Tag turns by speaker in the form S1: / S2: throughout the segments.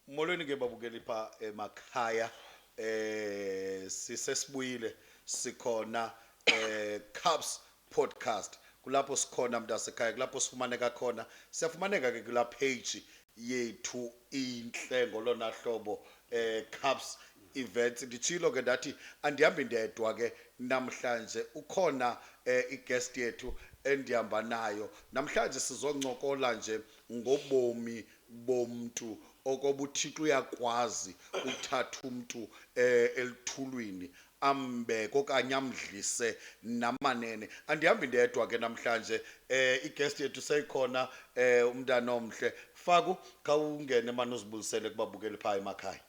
S1: molweni ke babukeli pha emakhaya eh sisesibuyile sikhona eh Cubs podcast kulapho sikhona mntasekhaya kulapho sifumaneka khona siyafumaneka ke kula page yethu inhle ngolona hlobo eh Cubs events nditshilo ke ndathi andihambi ndedwa ke namhlanje ukhona eh, i-guest yethu endihamba nayo namhlanje sizoncokola nje ngobomi bomntu okoba uThixo uyakwazi ukuthatha umntu eh, elithulwini ambeke okanye amdlise namanene andihambi ndedwa ke namhlanje eh iguest yethu seyikhona eh umntana omhle faku khawungene mani uzibulisele kubabukeli phaa emakhaya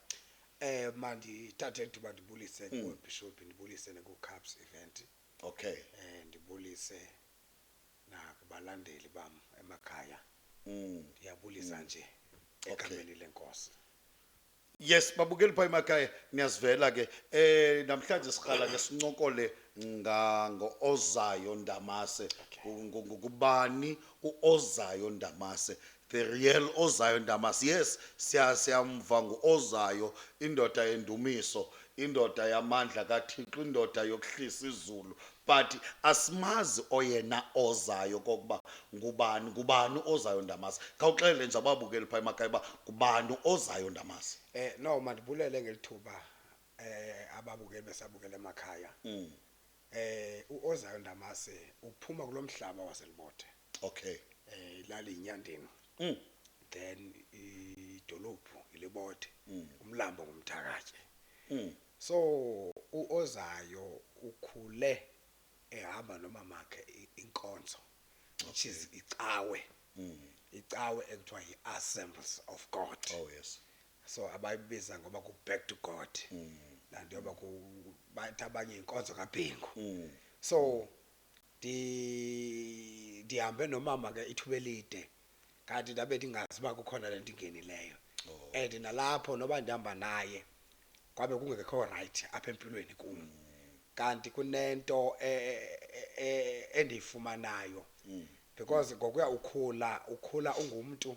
S1: Eh
S2: mandithathe ithuba ndibulise mm. kuBishop ndibulise nakuCaps event. Okay. Eh
S1: ndibulise
S2: nakubalandeli bam emakhaya ndiyabulisa nje egameni lenkosi yes
S1: babukeli phaa emakhaya niyazivela ke um namhlanje siqala ke sincokole nga- ngo-ozayo ndamase Ngu- ngu- ngubani uozayo ndamase The real ozayo ndamas yes siya siyamva nguozayo indoda yendumiso indoda yamandla kathixo indoda yokuhlisa izulu but asimazi oyena ozayo kokuba ngubani ngubani ozayo ndamasi khawuxelele nje ababukeli phaa emakhaya uba ngubani ozayo ndamasi Eh no mandibulele
S2: ngelithuba eh ababukeli besabukela emakhaya. Mm. Eh uOzayo Ndamase uphuma kulomhlaba waselibothe. Okay.
S1: Eh ilali
S2: inyandini. Mm. Then idolophu ilibothe. Mm. Umlambo ngumthakathe. Mm. So uOzayo ukhule ehamba nomamakhe inkonzo. Which is icawe. Mm. Icawe ekuthiwa yiAssemblies of God. Oh yes.
S1: so abayibiza
S2: ngoba ku-back to god laa nto yoba ku- bathi abanye yinkonzo kabhingu so ndi- ndihambe nomama ke ithuba elide kanti ndabe ndingazi uba kukhona le nto ingenileyo and nalapho noba ndihamba naye kwabe kungekho rayithi apha empilweni kum kanti kunento e- e- e- endiyifumanayo because ngokuya ukhula ukhula ungumntu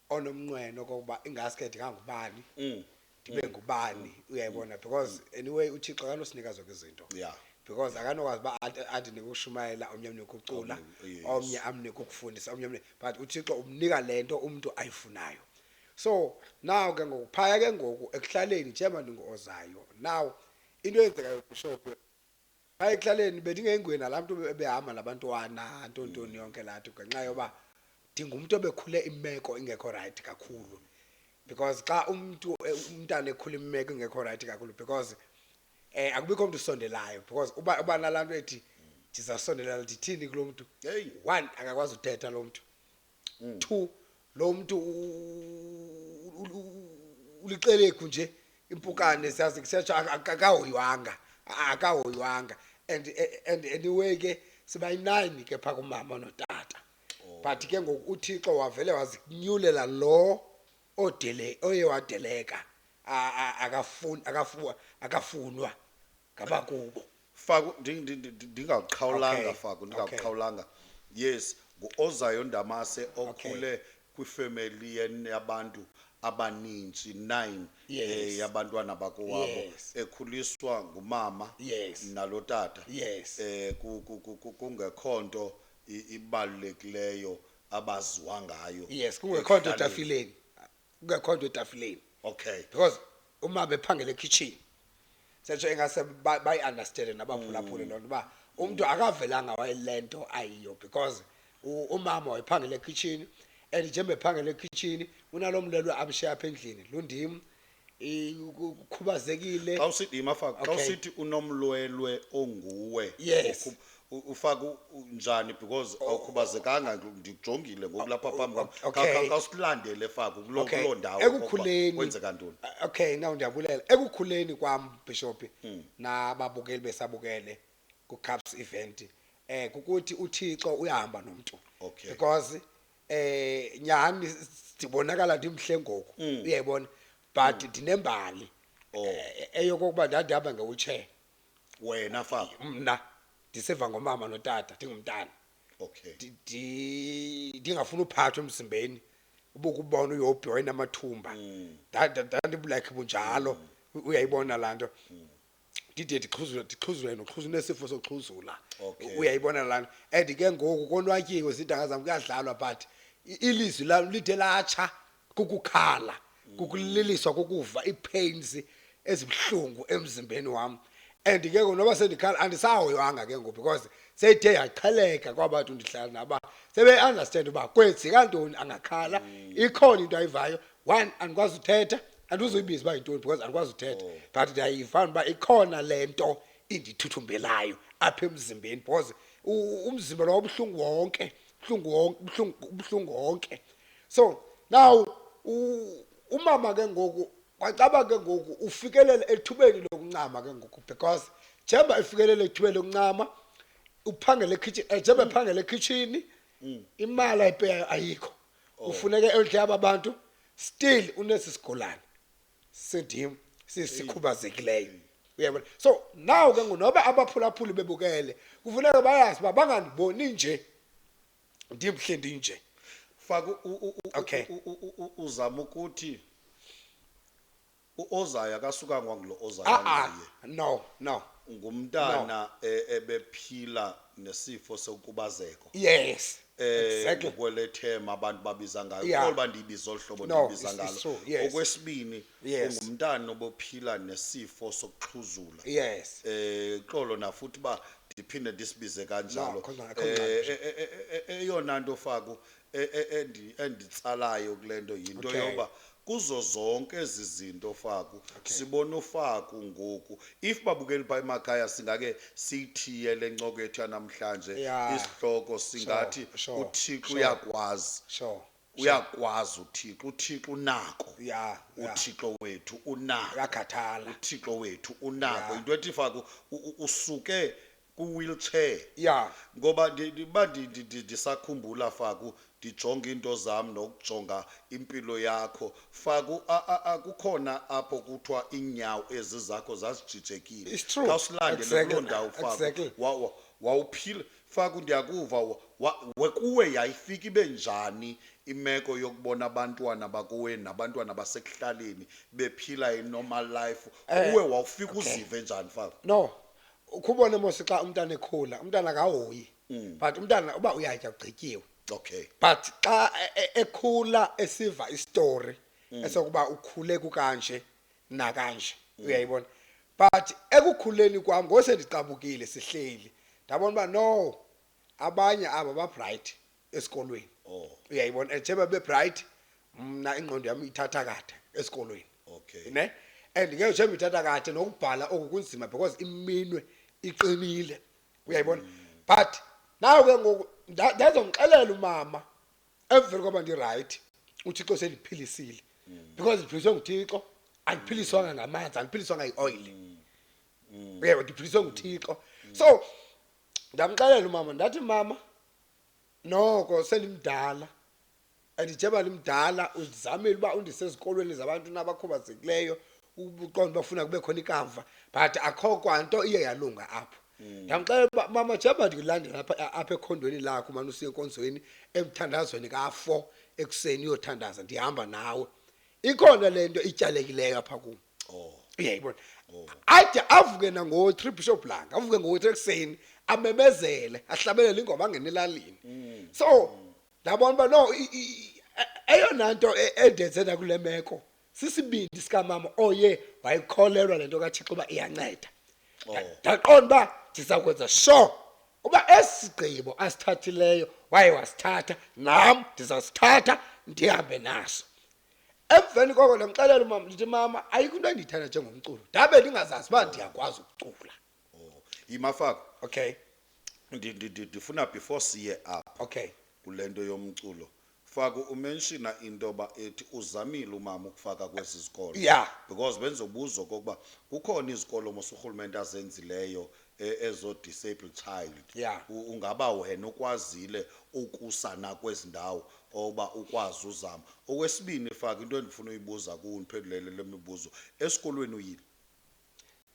S2: onomnqweno okokuba ingaske ndingangubani Mm. ndibe ngubani uyayibona because anyway uthixo akanosinika zonke izinto Yeah. because
S1: akanokwazi uba
S2: ati- andinike ukushumayela omnye amnike ukucula Omnye, yes. omnye amnike ukufundisa omnye amnike but uthixo umnika le nto umntu ayifunayo so naw ke ngoku phaya ke ngoku ekuhlaleni njengoba ndingu-ozayo naw into eyenzekayo kusho ke Xa ekuhlaleni bendingenguye nalaa mntu ebe- ebehamba nabantwana ntontoni yonke laa nto ngenxa yoba ndingumntu obekhule imeko ingekho rayithi kakhulu. Because xa umntu e- umntana ekhula imeko ingekho rayithi kakhulu because um akubikho mntu usondelayo because uba uba nalaa nto ethi ndizawusondelela ndithini kulo mntu. Heyi. One, akakwazi uthetha loo mntu. Mm. two lo mntu u- u- u- u- uliqelegu nje impukane siyazi kusetsho aka- aka- akahoywanga A- akahoywanga and and anyway ke sibayinayini ke phaa kumama notata but ke ngoku uthixo wavele wazinyulela lo odele oye wadeleka A- a- akafun- akafu- akafunwa ngabakubo faku ndi-
S1: ndi- ndi- ndi- ndingakuqhawulanga Okay, faku okay. ndingakuqhawulanga yes nguozayo ndamase okhule kwifemeli yen- yabantu abaninzi nine Yes. eh, yabantwana bakowabo Yes. ekhuliswa ngumama Yes. nalo tata Yes. eh ku- ku- ku- ku- kungekho nto i- ibalulekileyo abaziwa ngayo yes kungekho nto ekuhlaleni.
S2: etafileni kungekhodo etafileni okay because
S1: uma
S2: bephangela ekitchen setsho engase ba- bayi-understande nabaphulaphuli loo nto uba umntu akavelanga wayele nto ayiyo because u- umama wayephangela ekitshini and njengoba ephangela ekitshini unalo mlelo amshiya apha endlini lundim i- ku- kukhubazekile xa usithi yimafaka xa Okay.
S1: usithi unomlwelwe onguwe Yes. okhub-
S2: U- ufaka u-
S1: u- njani because awukhubazekanga ngi- ndikujongile ngoku lapha phambi kwam Oh, okay. Kha- kha- khawusilandele faku kuloo Okay. kuloo ndawo okokuba Ekukhuleni. kwenzeka
S2: ntoni Ah,
S1: Okay, now ndiyabulela.
S2: Ekukhuleni kwam Bishop Hmm. nababukeli besabukele ku Caps event eh kukuthi uThixo uyahamba nomuntu. Okay. Because eh nyani sibonakala ndimhle ngoku. Hmm. Uyayibona? But ndinembali. Oh. Eh, Eyokokuba ndandihamba ngewheelchair. wena
S1: fam mna ndiseva
S2: ngomama notata ndingumntana okay Ndi- ndi- ndingafuni uphathwa emzimbeni ubukubona uyophi wayenamathumba ndandibulakhe bunjalo u- uyayibona laa nto ndide ndixhuzule ndixhuzule noxhuzu nesifo soxhuzula Okay. U- uyayibona laa nto and ke ngoku konwatyiwe zintanga zam kuyadlalwa but i- ilizwi lam lide latsha kukukhala kukuliliswa kukuva ii-pains ezibuhlungu emzimbeni wam and ke ngoku noba sendikhala andisahoywanga ke ngoku because seyithe yaqheleka kwaba bantu ndihlala naba sebeyi-understand uba kwenzeka ntoni angakhala ikhona into ayivayo one andikwazi uthetha andizuyibiza uba yintoni because andikwazi uthetha but ndiyayiva uba ikhona le nto indithuthumbelayo apha emzimbeni because u- umzimba lo ubuhlungu wonke buhlungu wonke buhlungu ubuhlungu wonke so now umama ke ngoku kwacaba ke ngoku ufikelela ethubeni lokuncama ke ngoku because jemba efikelela ethubeni lokuncama uphangele ekhitshini eh, jemba ephangele ekhitshini mm. imali ayipeyayo ayikho oh. ufuneke eldle aba bantu still unesi sigulane sindim sisikhubazekileyo uyabona so now ke ngonoba abaphulaphuli bebukele kufuneka bayazi uba bangandiboni nje ndimhle ndinje faka u-
S1: u- u- u- Okay. u- u- u- u- uzama ukuthi uozayo akasukanga wangulo ozayo a-a anguye Ah, no no
S2: ngumntana
S1: eh, ebephila nesifo sokubazeko yes
S2: eh exactly ngokwelethema abantu
S1: babiza ngayo Yeah. kodwa ndiyibiza olu hlobo No, ndiyibiza it's- ngalo it's true, yes. okwesibini Yes. ungumntana obophila nesifo sokuxhuzula Yes. eh
S2: xolo
S1: nafuthi ba ndiphinde ndisibize kanjalo No, khona akho Eh, ngxaki. eh, eh, eh, eh, eyona nto faku eh, eh, endi- enditsalayo kule nto yinto Okay. yoba kuzo zonke ezi zinto faku sibona ufaku ngoku if babukeli pha emakhaya singake siyithiye le ncoko yethu yanamhlanje Yeah. isihloko singathi sure, uthixo sure. uyakwazi Sure. uyakwazi uthixo uthixo unako ya ya uthixo wethu unako uyakhathala uthixo
S2: wethu
S1: unako Ya. into ethi faku u- u- usuke kwi-wheelchair ya ngoba ndi- ndi- uba ndi- ndi- ndi- ndisakhumbula faku ndijonga iinto zam nokujonga impilo yakho faku a- a- a- kukhona apho kuthiwa iinyawo ezi zakho zazijijekile It's true. khawusilandele Exactly. kuloo ndawo faku Exactly. Wa- wa- wawuphila Faku, ndiyakuva. Wa, wa, wekuwe yayifika ibe njani imeko yokubona abantwana bakowenu nabantwana basekuhlaleni bephila i-normal life? Eh, Uwe wawufika okay. uzive njani, Faku? no
S2: ukhubone mosi xa umntana ekhula umntana akahoyi Mm. but umntana uba uyatya ugqityiwe Okay. but
S1: xa
S2: e- e- ekhula esiva isitori esokuba ukhule kukanje nakanje uyayibona but ekukhuleni kwam ngose ndiqabukile sihleli ndabona uba no abanye aba babright esikolweni oh. uyayibona and njeba bebright mna ingqondo yam ithatha kade esikolweni okay ne
S1: and
S2: ngeke njeba ithatha kade nokubhala oku kunzima because iminwe iqinile uyayibona mm. but nawe ke ngoku ndazomxelela umama emveni koba ndirayithi uthixo seliphilisile because ndiphiliswe nguthixo andiphiliswanga ngamanzi andiphiliswanga yioyile uyeba ndiphiliswe nguthixo so ndamxelela umama ndathi mama noko sendimdala and njeba ndimdala uzizamile uba undise ezikolweni zabantu nabakhubazekileyo ubuqonda uba funa kube khona ikamva but akho kwanto iye yalunga apho mm. ndamxelela uba mama jeba ndilandela apha ekhondweni lakho umane usiye enkonzweni emthandazweni kafo ekuseni uyothandaza ndihamba nawe ikhona le nto ityalekileyo apha kum oh. uyayibona oh. ade avuke nango-three bishop langa avuke ngo-three ekuseni amemezele ahlabelele ingoma angene elalini mm. so ndabona uba no eyona nto e, endenze nakule meko sisibindi sikamama oye wayikholelwa le nto kathixo uba iyanceda Nda- Oh. ndaqonda uba ndiza kwenza sure uba esi sigqibo asithathileyo waye wasithatha nam ndizasithatha ndihambe naso emveni koko ndamxelela umama ndithi mama ayikho into endiyithanda njengomculo ndabe ndingazazi uba ndiyakwazi ukucula oh yimafako
S1: okay
S2: Ndi- ndi- ndi-
S1: ndifuna before siye apha okay kule
S2: nto yomculo
S1: faka umenshina into yoba ethi uzamile umama ukufaka kwezi zikolo Yeah. because bendizobuza okokuba kukhona izikolo mos urhulumente azenzileyo e- ezo-disabled child Yeah. U- ungaba wena ukwazile ukusa nakwezi ndawo oba ukwazi uzama okwesibini faka into endifuna uyibuza kuwo ndiphendulele le mibuzo esikolweni uyile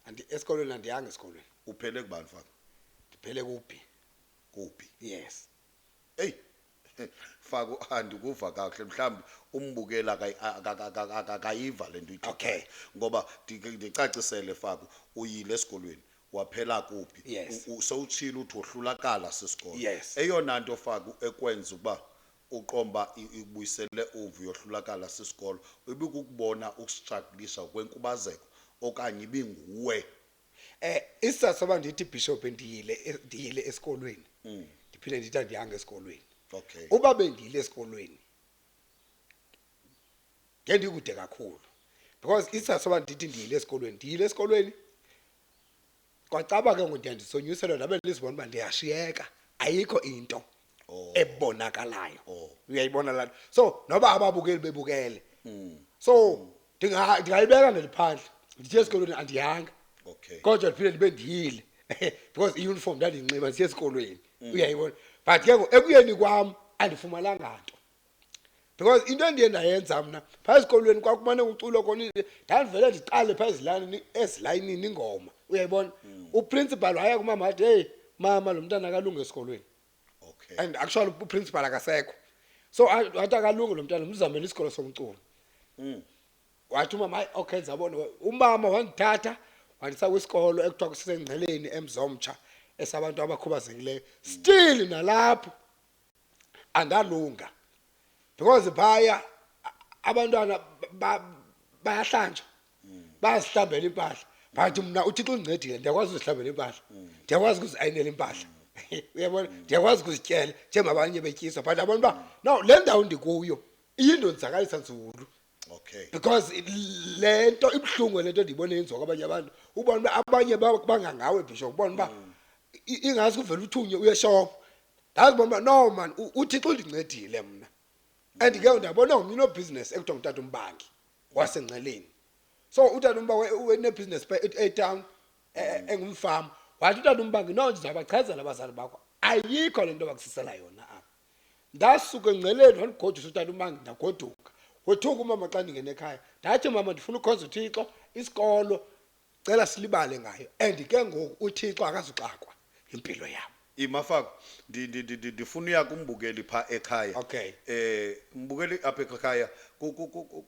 S1: Andi,
S2: esikolweni andiyanga esikolweni uphele kubani faka
S1: ndiphele
S2: kuphi
S1: kuphi
S2: yes
S1: eyi fako andikuva kakuhle mhlawumbi umbukeli akayi- aka- aka- aka- akayiva le nto uyithethayo. Okay. ngoba
S2: ndi-
S1: ndicacisele fako uyile esikolweni waphela kuphi Yes. U- u- sowutshile
S2: uthi
S1: wohlulakala sisikolo Yes. eyona nto
S2: fako
S1: ekwenza ukuba Uqonda uba ikubuyisele umva uyohlulakala sisikolo, ibikukubona ukustraglisa kwenkubazeko okanye ibinguwe?
S2: Isizathu soba ndithi Bishop ndiyile ndiyile esikolweni ndiphinde ndithi andiyanga esikolweni. Okay. Uba
S1: bendiyile
S2: esikolweni ngendikude kakhulu because isizathu soba ndithi ndiyile esikolweni ndiyile esikolweni kwacaba ke ngoku ndiya ndisonyuselwa ndabe ndizibona uba ndiyashiyeka ayikho into Oh. ebonakalayo Oh. uyayibona laa nto so noba ababukeli bebukele Hmm. so ndinga- ndingayibeka ndiliphandle ndithe esikolweni andiyanga Okay. kodwa
S1: ndiphinde ndibe
S2: ndiyile because iuniform ndandiyinxiba ndisiye esikolweni uyayibona but ke ngoku ekuyeni kwam andifumananga nto because into endiye ndayenza mna phaa ezikolweni kwakumane kuculwa khona ndandivele ndiqale phaa ezilalini ezilayinini ingoma uyayibona hmm. uprincipal waya kumama wathi heyi mama lo mntana akalunge esikolweni okay and
S1: actually
S2: uprincipal akasekho so wathi akalunge lo mntana mzamele isikolo somculo mm wathi umama hayi okay zabona umama wangithatha wandisa kwisikolo ekuthiwa kusisengceleni emzomtsha esabantu abakhubazekileyo still nalapho angalunga because phaya abantwana bayahlanjwa bayazihlambela impahla but mna uthixo undincedile ndiyakwazi uzihlambela impahla ndiyakwazi ukuziayinela impahla uyabona ndiyakwazi ukuzityela njengabanye betyiswa but abantu uba no le ndawo ndikuyo iyindonzakalisa nzulu okay because
S1: it-
S2: le nto ibuhlungu le nto ndiyibona yenziwa kwabanye abantu ubona uba abanye ba- bangangawe bishop ubona uba i- ingaske uvele uthunye uye shop ndazi bona uba no man u- uthixo undincedile mna and ke ndabona ngomnye unobhizinesi ekuthiwa ngutata umbangi wasengceleni so utata umba wenebhizinesi pha e- etown e- e- engumfama wathi utata umbangi no ndizawubachazela abazali bakho ayikho le nto bakusisela yona apha ndasuka engceleni wandigodusa utata umangi ndagoduka wethuka umama xa ndingena ekhaya ndathi mama ndifuna ukhonza uthixo isikolo cela silibale ngayo and ke ngoku uthixo akazuxakwa impilo yam imafako
S1: ndifuna uya kumbukeli pha ekhaya okay eh
S2: mbukeli
S1: apha ekhaya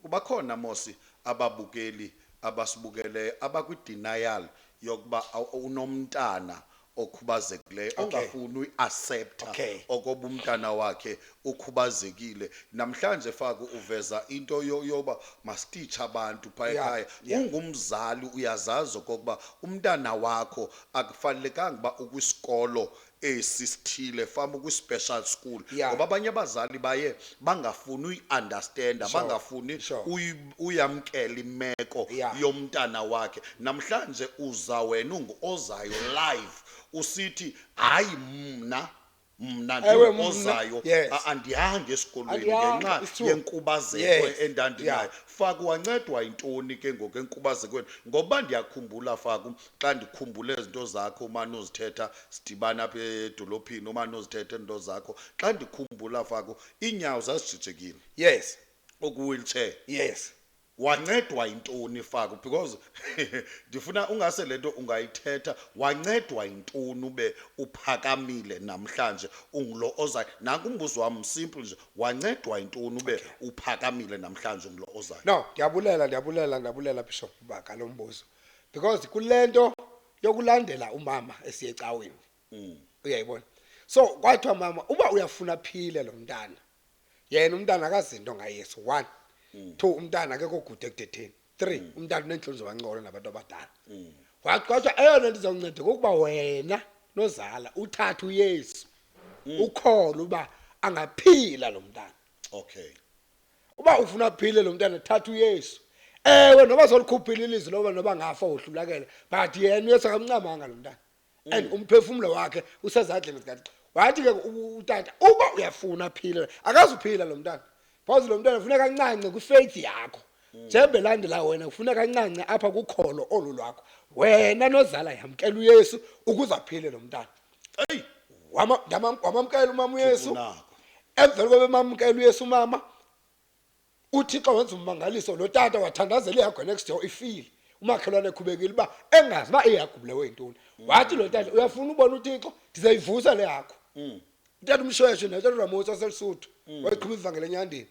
S1: kubakhona mosi ababukeli abasibukeleyo abakwi-denial yokuba unomntana okhubazekileyo Okay. ongafuni
S2: uyiaseptha
S1: Okay. okoba
S2: umntana
S1: wakhe ukhubazekile namhlanje faku uveza into yo- yoba masititshe abantu phaa Yeah, ekhaya yeah.
S2: ungumzali
S1: uyazazi okokuba umntana wakho akufanelekanga uba ukwisikolo esi sithile fama ukwi-special school Yeah. ngoba abanye abazali baye bangafuni uyiunderstanda Sure, bangafuni
S2: sure. uyi uyamkela
S1: imeko yeah. yomntana
S2: wakhe
S1: namhlanje uza wena unguozayo live usithi hayi mna mna
S2: ndiozayo
S1: andihange
S2: esikolweni
S1: ngenxa
S2: yenkubazeko
S1: endandinayo
S2: faku
S1: wancedwa yintoni ke ngoku enkubazekweni ngoba ndiyakhumbula faku xa ndikhumbule izinto zakho umane uzithetha sidibana apha edolophini umane uzithetha iinto zakho xa ndikhumbula faku iinyawo zazijijekile yes
S2: okwi-wheelchair
S1: yes
S2: wancedwa
S1: yintoni faku because ndifuna ungase le nto ungayithetha wancedwa yintoni ube uphakamile namhlanje ungulo ozayo nanku umbuzo wam simple nje wancedwa yintoni ube uphakamile namhlanje ungulo ozayo no ndiyabulela
S2: ndiyabulela ndiyabulela bishop uba ngalo mbuzo because kule nto yokulandela umama esiye ecaweni uyayibona so kwathiwa mama uba uyafuna aphile lo mntana yena umntana akazinto ngayesu one mm. two umntana akekho gude ekudetheni three mm. umntana uneentloni zobancokola nabantu abadala mm. wagxothwa eyona nto izawunceda kokuba wena nozala uthathe uyesu mm. ukhona uba angaphila lo mntana okay
S1: uba
S2: ufuna aphile lo mntana thatha uyesu ewe noba zolikhuphile ilizwi loba noba ngafa wohlulakele but yena uyesu akamncamanga lo mntana and umphefumlo wakhe usezandleni zikathixo wathi ke u- utata uba uyafuna aphile akazuphila lo mntana because lo mntana funeka ancance kwifaith yakho njembe landela wena kufuneka ancance apha kukholo olu lwakho wena nozala yamkela uyesu ukuze aphile lo mntana eyi
S1: Wama- ndamam-
S2: wamamkela umama uyesu unako
S1: emveni koba
S2: emamkela uyesu umama uthixo wenza ummangaliso lo tata wathandazela ihagu next door ifile umakhelwane ekhubekile uba engazi uba iyagubulewe yintoni wathi lo tata uyafuna ubona uthixo ndizayivusa le hagu utata umshweshwe natata ramosi waselisuthu wayeqhuba ivangela enyandeni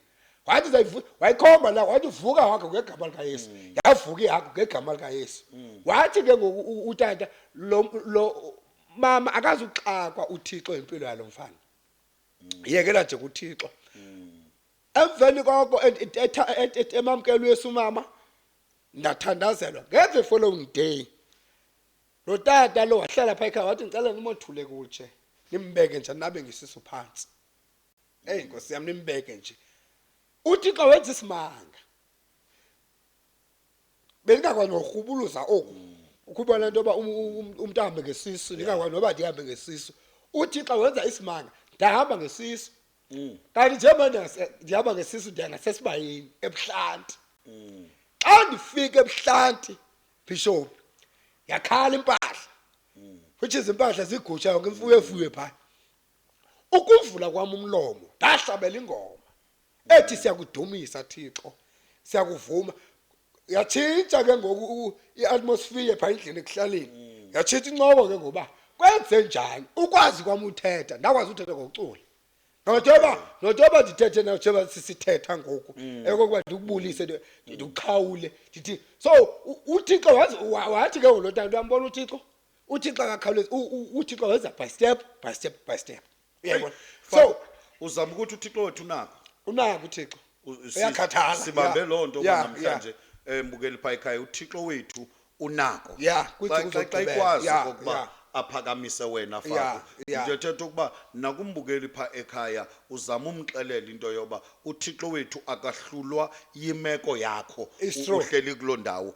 S2: wathi zayivuka wayikhomba la wathi vuka wakhe ngegama likayesu yavuka ihagu ngegama likayesu wathi ke ngoku u- utata lo lo mama akazuxakwa uthixo impilo yalo mfana yekela nje kuthixo emveni koko et- et- etha- et- et- emamkela uyesu umama ndathandazelwa ngeve following day lo tata lo wahlala phaa ekhaya wathi ndicela nimothule kutshe nimbeke nje nabe ngisisu phantsi eyi nkosi yam nimbeke nje uthixo wenza isimanga bendingakwazi norhubuluza oku ukuba le nto yoba um- um- um- umntu ahambe ngesisu ndingakwazi noba ndihambe ngesisu uthixo wenza isimanga ndahamba ngesisu kanti njengoba ndingase- ndihamba ngesisu ndiya ngasesibayeni ebuhlanti xa ndifika ebuhlanti bhishophu yakhala impahla which is impahla zigutsha yonke imfuyo efuyo phaa ukuvula kwam umlomo ndahlabela ingoma ethi siyakudumisa thixo siyakuvuma yatshintsha ke ngoku iatmosphere phaa endlini ekuhlaleni mm. yatshintsha incoko ke ngoba kwenze njani ukwazi kwam uthetha ndakwazi uthetha ngokucula nojoba nojoba ndithethe nojoba sisithetha ngoku mm. ekokuba ndikubulise mm. ndikuqhawule ndithi so uthixo wathi ke ngolotana luyambona uthixo uthixo akakhawulezi uthixo wenza by step by step by step uyayibona so uzama ukuthi
S1: uthixo wethu unako unako uthixo
S2: uyakhathala sibambe loo nto
S1: namhlanje embukeli phaa ekhaya uthixo wethu unako ya xa ikwazi okokuba aphakamise wena faka into ethetha ukuba nakumbukeli pha ekhaya uzama umxelela into yoba uthixo wethu akahlulwa yimeko yakho uhleli kuloo ndawo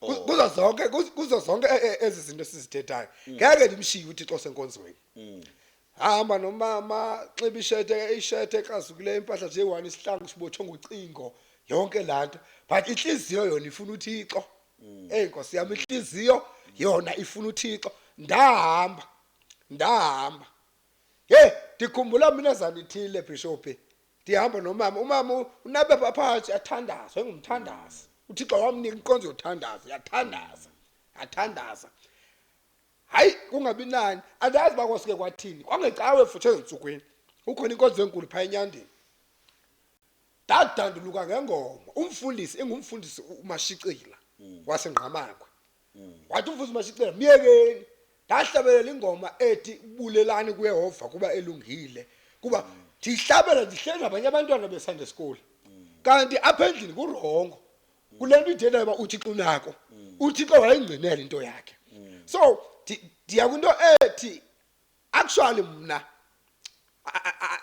S2: Ku- Oh. kuzo zonke kuz- kuzo zonke e- e- ezi zinto sizithethayo Mm. ngeke ndimshiye uthixo osenkonzweni hamba nomama xiba ishete ishete ekrazukileyo impahla nje one isihlangu sibotshwe ngocingo yonke laa nto but intliziyo yona ifuna uthixo Mm. eyi nkosi yam intliziyo yona ifuna uthixo ndahamba ndahamba ye ndikhumbula mina zanithile bhishophi ndihamba nomama umama u- unabe pha- phantsi yathandaza engumthandazi uthixo wamnika inkonzo yothandaza yathandaza yathandaza hayi kungabi nani andazi uba kwasuke kwathini kwangecawe futhi ezintsukwini ukhona inkonzo enkulu phaa enyandeni ndadanduluka ngengoma umfundisi engumfundisi u- umashicila wasengqamakwe wathi umfundisi masicela myekeni ndahlabelela ingoma ethi bulelani kuyehova kuba elungile kuba ndihlabela ndihleli nabanye abantwana besande school kanti apha endlini kurongo kule nto idela uba uthixo unako uthixo wayengcinela into yakhe so ndiya kwinto ethi actually mna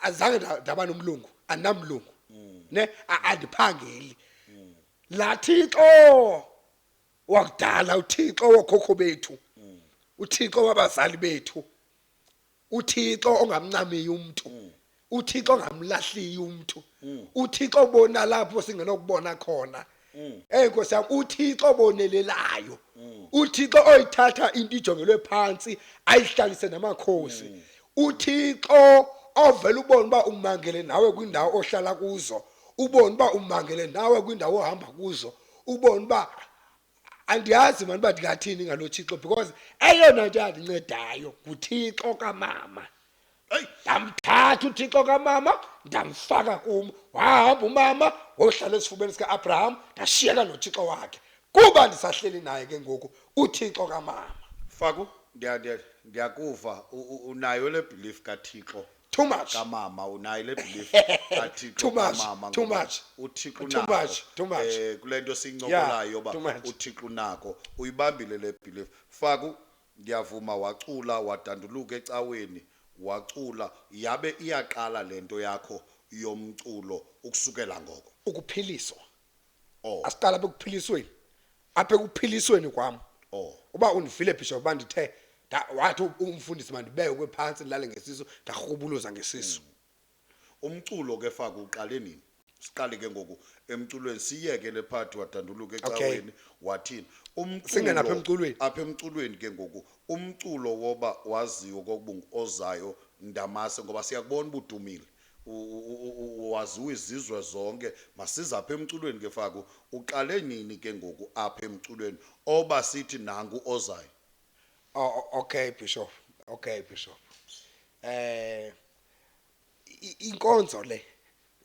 S2: azange ndaba nomlungu andinamlungu ne andiphangeli lathixo wakudala uthixo wokhokho bethu uthixo wabazali bethu uthixo ongamncamiyo umntu uthixo ongamlahliyo umntu uthixo obona lapho singenokubona khona eyi nkosi yam uthixo obonelelayo uthixo oyithatha into ijongelwe phantsi ayihlalise namakhosi uthixo ovela ubona uba umangele nawe kwiindawo ohlala kuzo ubone uba umangele nawe kwindawo ohamba kuzo ubone uba andiyazi mani uba ndingathini ngalo thixo because eyona nto yandincedayo nguthixo kamama eyi ndamthatha uthixo kamama ndamfaka kum wahamba umama wohlala esifubeni sika-abraham ndashiyeka nothixo wakhe kuba ndisahleli naye ke ngoku uthixo kamama faku
S1: ndiyakuva unayo le belief kathixo too much kamama
S2: unayo le
S1: belief athi Too much, kamama too ngoba much. uthixo
S2: Too unako much,
S1: too much. eh kule nto siyincokolayo yoba too much. uthixo unako uyibambile le belief faku ndiyavuma wacula wadanduluka ecaweni wacula yabe iyaqala le nto yakho yomculo ukusukela ngoko ukuphiliswa
S2: Oh. asiqala apha ekuphilisweni apha ekuphilisweni kwam Oh. uba undivile bishop uba ndithe nda- wathi u- umfundisi mandibekwe phantsi ndilale ngesisu ndarhubuluza
S1: ngesisu Umculo ke
S2: faka
S1: uqale nini? Siqale ke ngoku emculweni siyeke le part wadanduluka Okay. ecaweni wathini? Umculo Singena apha
S2: emculweni. Apha emculweni ke
S1: ngoku umculo woba waziyo kokuba ozayo ndamase ngoba siyakubona ubudumile. waziwa izizwe zonke masize apha emculweni ke faku uqale nini ke ngoku apha emculweni oba sithi nangu ozayo oh, okay
S2: bishop okay bishop eh inkonzo le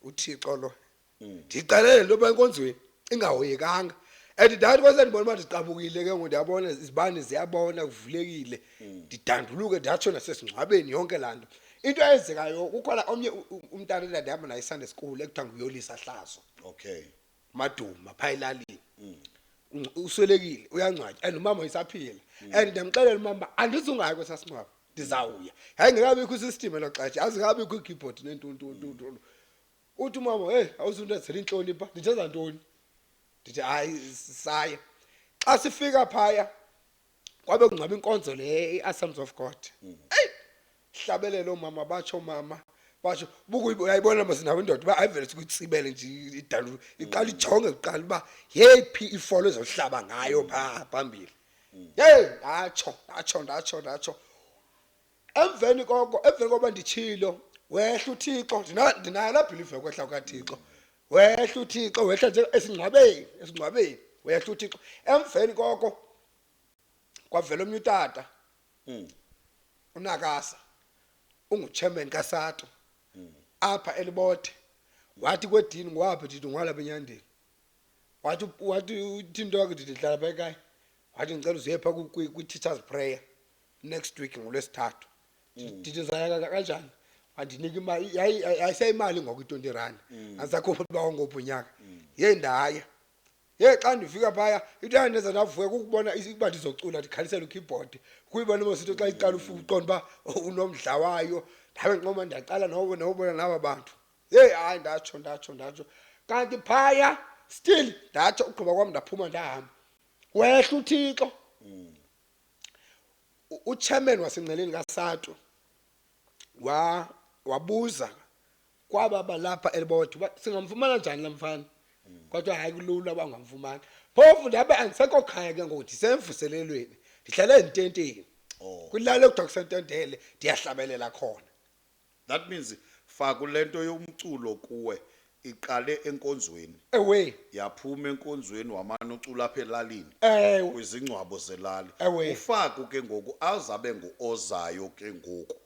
S2: uthixo lo ndixelele into yoba enkonzweni ingahoyekanga and ndathi kwase ndibona uba ndiqabukile ke ngoku ndiyabona izibane ziyabona kuvulekile ndidanduluke ndatsho nasesingcwabeni yonke laa nto into eyenzekayo kukhona omnye u- u- umntana endandihamba naye isande school ekuthiwa nguyolisa hlazo okay
S1: maduma
S2: phaa elalini Ungc- uswelekile uyangcwatywa and umama isaphila and ndiyamxelela umama uba andizungayo kwesaa singcwabo ndizawuya yayingekabikho isistim elo xesha azingabikho iikeyboard neentuntuntuntu uthi umama heyi awuzundenzela intloni pha ndithenza ntoni ndithi hayi saya xa sifika phaya kwabe kungcwaba inkonzo le i-assembles of god eyi hlabelele oomama batsho mama basho bukuyayibona masinawo indoda uba ayivele sikutsibele nje idalu iqala ijonge kuqala uba yeyiphi ifolo ezohlaba ngayo phaa phambili yeyi ndatsho ndatsho ndatsho ndatsho emveni koko emveni koba nditshilo wehla uthixo ndinayo laa bhilivu yokwehla kukathixo wehla uthixo wehla nje esingcwabeni esingcwabeni wehla uthixo emveni koko kwavela omnye utata hmm. unakasa unguchairman kasato hmm. apha elibothe wathi kwedini ngwaphi ndithi ngwalapha enyandeni wathi wathi uthintoke ndithi ndihlala pha ekhaya wathi ndicela uziye pha kwi-teachers prayer next week ngolwesithathu ndithi ndizayaka kanjani andinika imali yayi- yayi- yayiseyimali ngoku i-twenty rand andisakhupha uba wangophi unyaka yeyi ndaya yeyi xa ndifika phaya into yandenza ndavuya kukubona is- uba ndizocula ndikhalisele ukeyboard kuyibona mositho xa iqala ufu- uqonda uba unomdla wayo ndabe nqoma ndiyaqala nobo- nobona naba bantu yeyi hayi ndatsho ndatsho ndatsho kanti phaya still ndatsho ugqiba kwam ndaphuma ndahamba wehla uthixo uchairman wasengceleni kaSATU wa wabuza kwaba balapha elibodwa uba singamfumana njani la mfana kodwa hayi kulula uba ungamfumana phofu ndabe andisekho khaya ke ngoku ndisemvuselelweni ndihlala ezintenteni Oh. kwilali ekuthiwa kusententele ndiyahlabelela khona That means
S1: faku lento yomculo kuwe iqale enkonzweni. Ewe. Yaphuma enkonzweni wamane ucula apha elalini. Ewe. Kwizingcwabo zelali. Ewe. Ufaku ke ngoku azabe nguozayo ke ngoku.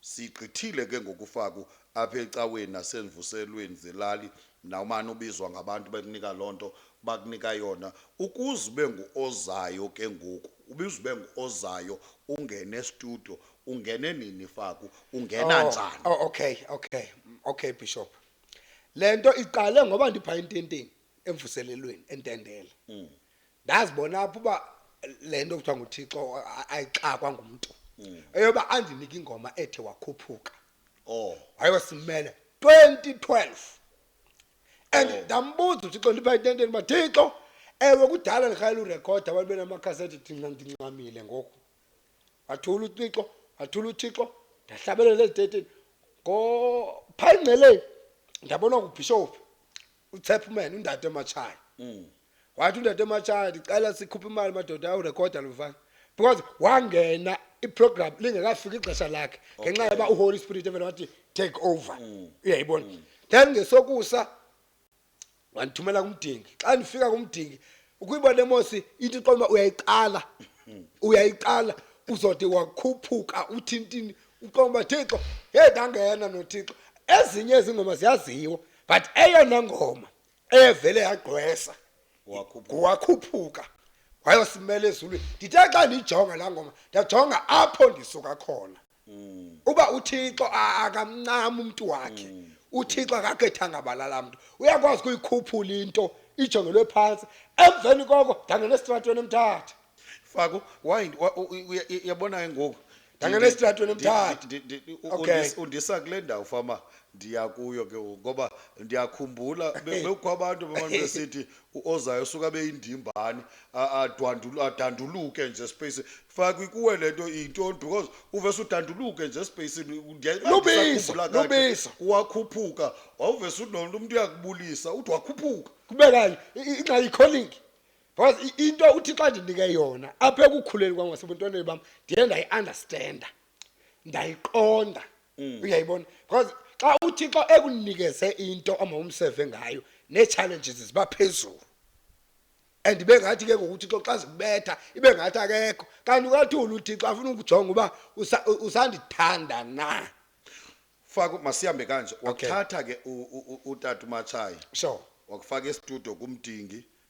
S1: Sigqithile ke ngoku ufaku apha ecaweni nasenvuselweni zelali nawumane ubizwa ngabantu bekunika loo nto bakunika yona ukuze ube nguozayo ke ngoku. Ubizube nguozayo ungene estudio ungene nini faku ungena Oh, njani Oh, okay, okay. Okay,
S2: Bishop. Lento iqale ngoba ndipha intenteni emvuselelweni entendele. Mm. Ndazibona apho uba lento kuthiwa nguThixo a- ayixakwa ngumuntu. Mm. Eyoba andinike ingoma ethe wakhuphuka. oh wayosimela 2012 and Oh. ndambuza uthixo ndipha intenteni uba thixo ewe kudala ndikhalela urekhoda abantu benamakhaseti ndinca- ndincamile ngoku wathula uthixo wathula uthixo ndahlabelela ezitetini ngophaa ingceleni ndabona kubhishophu utsepman undade ematshaya Mm. wathi undade ematshaya ndicela sikhuphe imali madoda awurekhoda lo mfana because wangena iprogram lingekafiki ixesha lakhe ngenxa yoba uholy spirit evele wathi take over uyayibona then ngesokusa wandithumela kumdingi xa ndifika kumdingi ukuyibona emosi ithi qoma uyayiqala uyayiqala uzode wakhuphuka uthi ntini uqoma thixo hey ndangena nothixo ezinye ezingoma ziyaziwa but eyona ngoma eyevele yagqwesa wakhuphuka wayosimela ezulwini ndithe xa ndiyijonga laa ngoma ndajonga apho ndisuka khona uba uthixo a- akamncami umntu wakhe uthixo akagethanga balala mntu uyakwazi ukuyikhuphula into ijongelwe phantsi emveni koko ndangena esitratweni emthatha fako
S1: why wa- u-
S2: u- uya- i-
S1: yabona ke
S2: ngoku Ndangena Ndi- esitratweni ndi- emthatha. ndi- ndi- ndi- u- Okay. undis- undisa kule ndawo
S1: fama ndiya kuyo ke ngoku ngoba ndiyakhumbula be- bekukho abantu bemane besithi uozayo usuke abe yindimbane a- adwandulu- adanduluke nje espacini fake kuwe le nto iyintoni because uvese udanduluke nje espacini Ndiya- Lubisa, ndisakhumbula
S2: kakuhle. lubisa. wakhuphuka
S1: wawuvese unomntu umntu uyakubulisa uthi wakhuphuka kube kanye i- i-
S2: ingxaki yikholingi because i- into uthixo andinike yona apha ekukhuleni kwam ngasebuntwaneni bam ndiye ndayi-understanda ndayiqonda Mm. uyayibona because xa uthixo ekunikeze into omawumseve ngayo nee-challenges ziba phezulu and ibe ngathi ke ngoku uthixo xa zikubetha ibe ngathi akekho kanti ukathula uthixo afuna ukujonga uba usa- u- usandithanda na faka
S1: masihambe kanje Okay. wathatha ke u-
S2: u- u-
S1: utata umatshayi sure wakufaka
S2: estudio
S1: kumdingi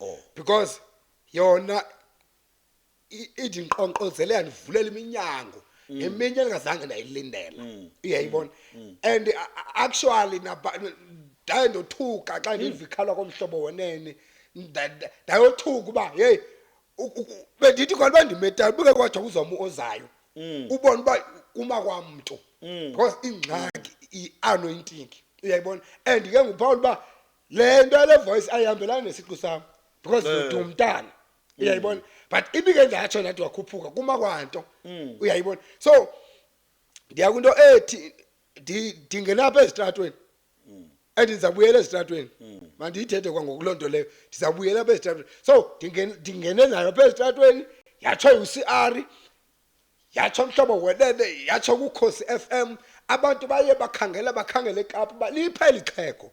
S2: oh because yona i- ithi ndiqonqozelela ndivulela iminyango eminye ndingazange ndayilindela uyayibona and a- a- actually naba- ndaye ndothuka xa ndiva ikhalwa komhlobo wenene Nda- nda- ndayothuka uba yeyi u- u- u- bendithi kona uba ndimetayo buke kwatsho kuzoma ozayo ubona uba uma kwamntu because ingxaki i-anointing uyayibona and ke nguphawula uba le nto yale voice ayihambelani nesiqu sam because Eh. ndiduma umntana uyayibona but ibike ndatsho ndathi wakhuphuka kuma kwanto Mm. uyayibona so ndiya kwinto ethi ndi- ndingenapha ezitratweni Mm. and ndizabuyela ezitratweni mandiyithethe kwangoku loo nto leyo ndizabuyela apha ezitratweni so ndingen- ndingene nayo apha ezitratweni yatsho ucr yatsho mhlobo welele yatsho kukhosi FM abantu baye bakhangela bakhangele eKapa uba lipha eli xhego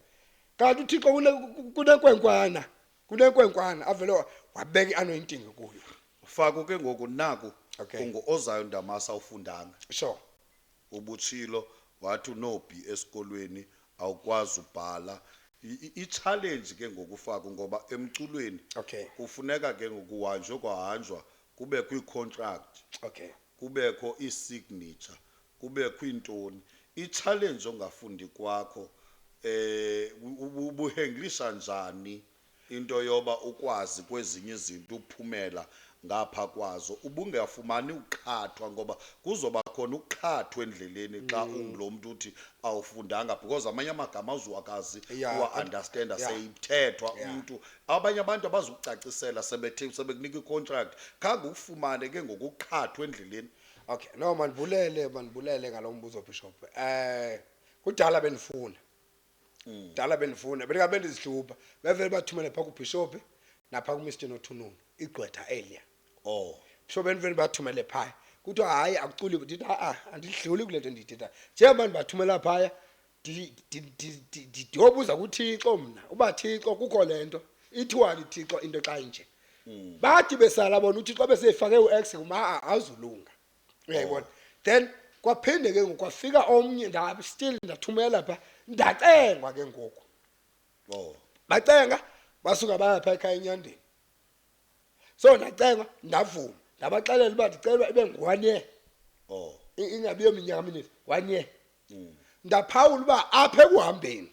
S2: kanti uthixo kune- kunenkwenkwana kunenkwenkwana avele wa- wabeka i-anointing kuyo fako ke ngoku
S1: naku Okay. ungu-ozayo
S2: ndamasi
S1: awufundanga sure
S2: ubutshilo
S1: wathi unobhi esikolweni awukwazi ubhala I- i- i-challenge ke ngokufako ngoba emculweni Okay. kufuneka
S2: ke
S1: ngokuhanjwe kwahanjwa kubekho iikhontrakthi, Okay.
S2: kubekho
S1: iisignature, kubekho iintoni. Itshalenji ongafundi kwakho um ubu- ubuhenglisha njani into yoba ukwazi kwezinye izinto uphumela ngapha kwazo. Ubungafumani ukuqhathwa ngoba kuzoba khona ukuqhathwa endleleni xa ungulo mntu uthi awufundanga because amanye amagama awuzuwakazi Yeah, uwa-andastenda yeah. seyithethwa Yeah. umntu Abanye abantu abazukucacisela sebethe sebekunika icontract khange ukufumane ke ngokuqhathwa endleleni. Okay, no
S2: mandibulele mandibulele ngalo mbuzo Bishop. Eh kudala bendifuna. Kudala bendifuna bendingabe ndizihlupha. Bevele bathumele pha kuBishop napha kuMr Nothununu igqwetha elia. Oh. Bishop
S1: bendivele
S2: bathumele phaya. Kuthiwa hayi akuculi ndithi a andidluli kule nto ndiyithethayo. Njengoba ndibathumela phaya Ndi- ndi- ndi- ndi- ndi- ndiyobuza kuthixo mna uba thixo kukho le nto ithiwani thixo into xa inje bathi besala bona uthixo beseyifake u-x kuma azulunga uyayibona then kwaphinde ke ngoku kwafika omnye nda- still ndathumela pha ndacengwa ke ngoku Oh.
S1: bacenga
S2: basuka baya pha ekhaya enyandeni so ndacenga ndavuma ndabaxelela uba ndicelwa ibe ngu-one year Oh. I-
S1: ingabi yominyaka
S2: minini one year ndaphawula uba apha ekuhambeni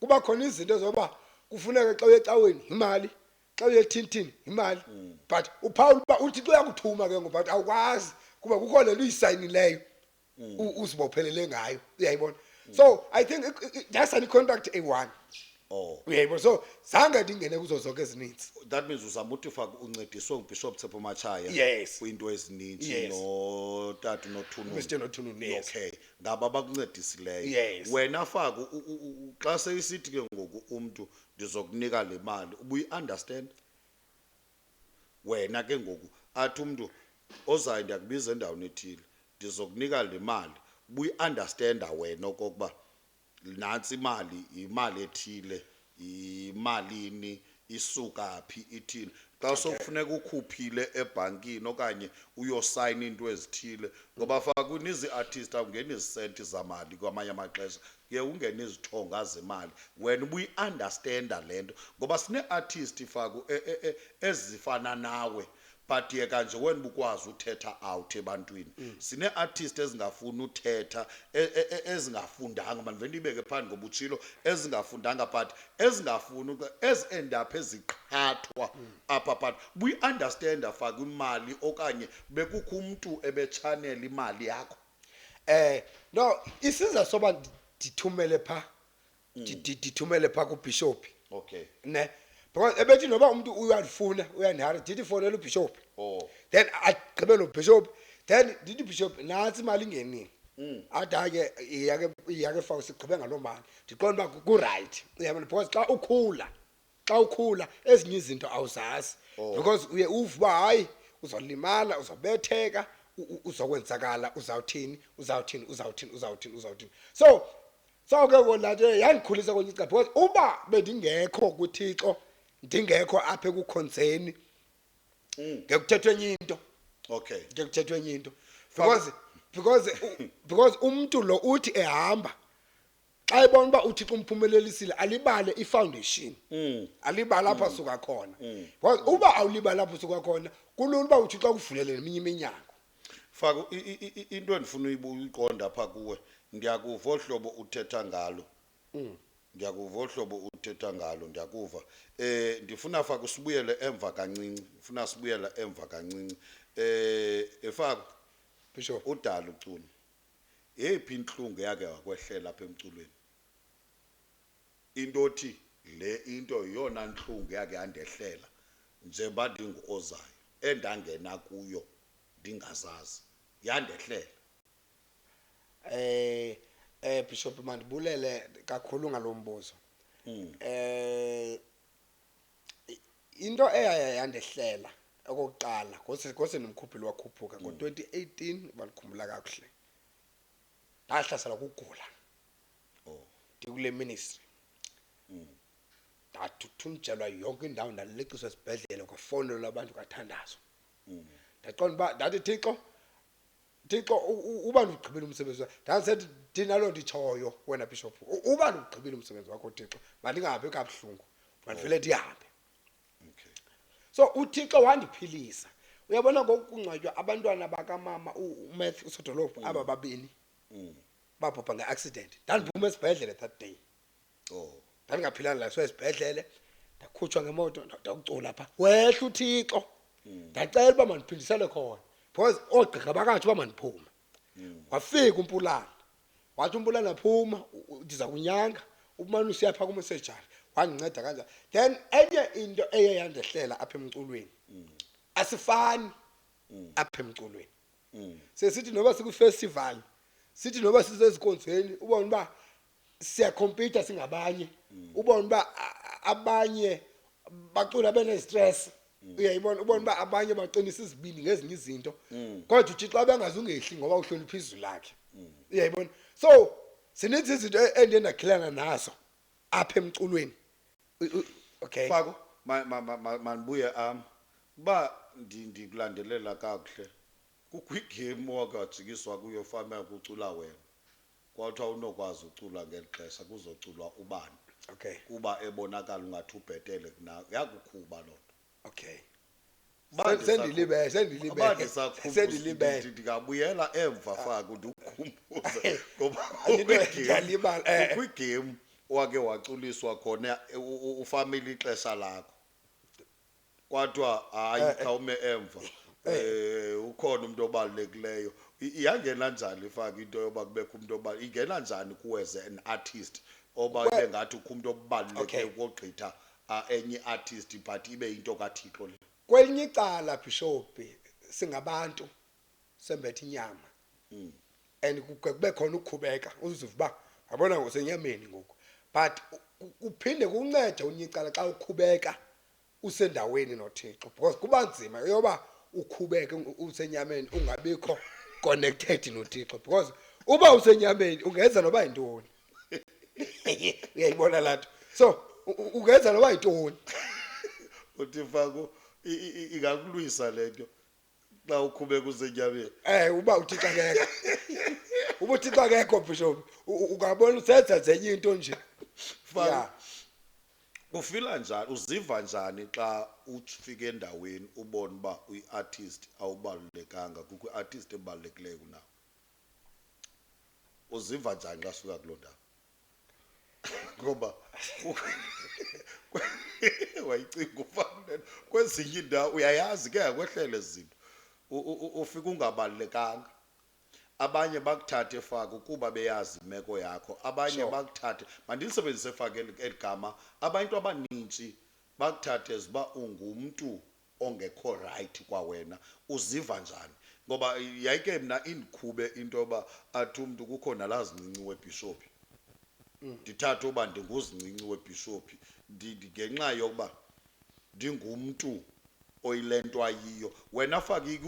S2: kuba khona izinto zoba kufuneka xa uye ecaweni yimali xa uye ethintini yimali but uphawula uba uthixo uyakuthuma ke ngoku but awukwazi kuba kukho le nto uyisayinileyo u- uzibophelele ngayo uyayibona so i think i- i- yasani icontract eyi-one oh uyayibona
S1: so
S2: zange ndingene kuzo zonke ezininzi that means uzama uthi
S1: ufake uncediswe ngubishop thepho matshaya Yes. kwiinto
S2: ezininzi Yes.
S1: notata unothununu Mr. Nothununu, yes.
S2: okay ngaba
S1: abakuncedisileyo Yes. wena
S2: fake u- u-
S1: u- u- xa seyisithi ke ngoku umntu ndizokunika le mali ubuyi-understand wena ke ngoku athi umntu ozayo ndiyakubiza endaweni ethile ndizokunika le mali ubuyi-understanda wena okokuba nantsi imali yimali ethile yimalini isuka phi ithini xa sokufuneka ukhuphile ebhankini okanye uyosayina iinto ezithile ngoba fakwini izii-artist awungeni izisenti zamali kwamanye amaxesha kuye ungene izithonga zemali wena ubuyi-andastenda le nto ngoba sinee-artist faku e, e, e, ezifana nawe but yeka nje wena bukwazi uthetha out ebantwini mm. sine-artist ezingafuni uthetha e, e, e, ezingafundanga mandivele ndiyibeke phandle ngoba utshilo ezingafundanga but ezingafuni ezi-end up eziqhathwa mm. apha but buyi-understanda fake imali okanye bekukho umntu ebetshanela imali yakho um
S2: no isiza soba ndithumele phaa ndi- ndi- ndithumele phaa kubhishophi okay ne
S1: because
S2: ebethi noba umntu uyalifuna uyandihara ndithi fonela ubhishophi oh then agqibe lo bhishophi then ndithi bhishophi nantsi imali ingenile Mm. athi hayi ke iyake iyake fawu sigqibe ngaloo mali ndiqonda uba kurayithi uyabona because xa ukhula xa ukhula ezinye izinto awuzazi oh. because uye uve uba hayi uzolimala uzobetheka uzokwenzakala uzawuthini uzawuthini uzawuthini uzawuthini uzawuthini so so ke kona nje yandikhulisa kwenye icala because uba bendingekho kuthixo ndingekho apha ekukhonzeni mm. ngekuthethwa enye into okay ngekuthethwa
S1: enye into
S2: because because because umuntu lo uthi ehamba xa ebona uba uthixo umphumelelisile alibale ifoundation Mm. alibale apho asuka khona Because uba awulibali apho usuka khona kulula uba uthixo akuvulele neminye iminyango faka
S1: i- i- i- i- into endifuna uyibu- uyiqonda apha kuwe ndiyakuva olu hlobo uthetha ngalo ndiyakuva olu hlobo uthetha ngalo ndiyakuva um ndifuna faka usibuyele emva kancinci ndifuna sibuyela emva kancinci um efako bishop
S2: udala ucuni
S1: Yeyiphi intlungu eyake wakwehlela apha emculweni? Into othi le into yeyona ntlungu eyake yandehlela njengoba ndinguOzayo, endangena kuyo ndingazazi, yandehlela.
S2: Bishop mandibulele kakhulu ngalo mbuzo. Into eyaya yandehlela okokuqala ngoseni mkhuphi lwakhuphuka mm. ngo-twenty eighteen uba ndikhumbula kakuhle ndahlaselwa kugula oh. ndikule ministry mm. ndathuthunjelwa yonke indawo ndaleqiswa esibhedlele kwafowunelwa abantu kathandazo mm. ndaqonda uba ndathi thixo Thixo uba ndiwugqibile umsebenzi wakho ndandisethi ndinaloo nto itshoyo wena bishophu uba ndiwugqibile umsebenzi wakho thixo mandingahambi kabuhlungu mandivele ndihambe okay
S1: so
S2: uthixo wandiphilisa uyabona ngokungcwatywa abantwana bakamama umath usodolophu aba babini mm. babhubha nge-accident ndandiphuma esibhedlele that day oh ndandingaphilanga la sesibhedlele ndakhutshwa ngemoto ndakucula pha wehla uthixo hmm. ndacela uba mandiphindisele khona because oogqirha bakathi uba mandiphume hmm. wafika umpulana wathi umpulana phuma ndiza kunyanga umane usiya phaa kumesejari wandinceda kanjani then enye into eye yandehlela apha emculweni hmm. asifani apha emculweni sesithi noba sikwifestival sithi noba sisezikonzweni ubona uba siyakhompyutha singabanye mm. ubona uba abanye bacula benestress mm. uyayibona ubona uba abanye baqinisa izibindi ngezinye izinto mm. kodwa uthixo abengazi ungehli ngoba uhlonipha izwi lakhe uyayibona so sininzi izinto e-, endiye ndakhilana nazo apha emculweni okay fako
S1: mandibuye am uba ndikulandelela kakuhle kukho igame owakajikiswa kuyo fama yakucula wena Kwathiwa unokwazi ucula ngeli xesha kuzoculwa ubani Okay. kuba
S2: ebonakala
S1: ungathi ubhetele kunawe yakukhuba loo nto Okay.
S2: Uba Se- ndisakhu- Sendilibele, sendilibele. uba ndisakhumbula Sendilibele. ndi- ndingabuyela
S1: emva faku ndikukhumbuze ngoba Into kwigame- ndiyalibala, eh. kwigame wake waculiswa khona eh, u- u- ufamile ixesha lakho Kwadwa hayi Eh, eh. khawume emva. Eh ukhona umuntu obalulekileyo. I- Iyangena njani ifaka into yoba kubekho umuntu oba ingena njani kuwe as an artist oba Well- ibe ngathi ukho umuntu obaluleke Okay. ukogqitha ah, enye artist but ibe into kaThixo le. kwelinye icala
S2: bhishobhi singabantu sembethe inyama Mm. and kuke kube khona ukukhubeka uziva uba yabona ngosenyameni ngoku but ku- kuphinde kuncede unye icala xa ukhubeka usendaweni noThixo because kuba nzima yoba ukhubeke usenyameni ungabikho connected noThixo because uba usenyameni ungenza noba yintoni uyayibona laa nto so ungenza noba yintoni
S1: uthi faku ingakulwisa le nto xa ukhubeka usetyabeni Eh uba uThixo
S2: akekho. Uba uThixo akekho bishop u- u- ungabona usenza zenye into nje. Fana.
S1: Yeah. ufila njani uziva njani xa ufika endaweni ubone uba uyi-artist awubalulekanga kukho i-artist ebalulekileyo kunawo uziva njani xa sifika kuloo ndawo ngoba wayicinga ufanele kwezinye iindawo uyayazi ke yakwehlele zinto ufika ungabalulekanga abanye bakuthathe faka ukuba beyazi imeko yakho abanye sure. bakuthathe mandilisebenzise faka eli gama abantu abaninzi bakuthathe ziba ungumntu ongekho rayithi kwawena uziva njani? Ngoba yayike mna indikhube into yoba athi umntu kukho nalaa zincinci webhishophi. Ndithathe uba ndinguzincinci webhishophi ngenxa yokuba ndingumntu oyile nto ayiyo. Wena fake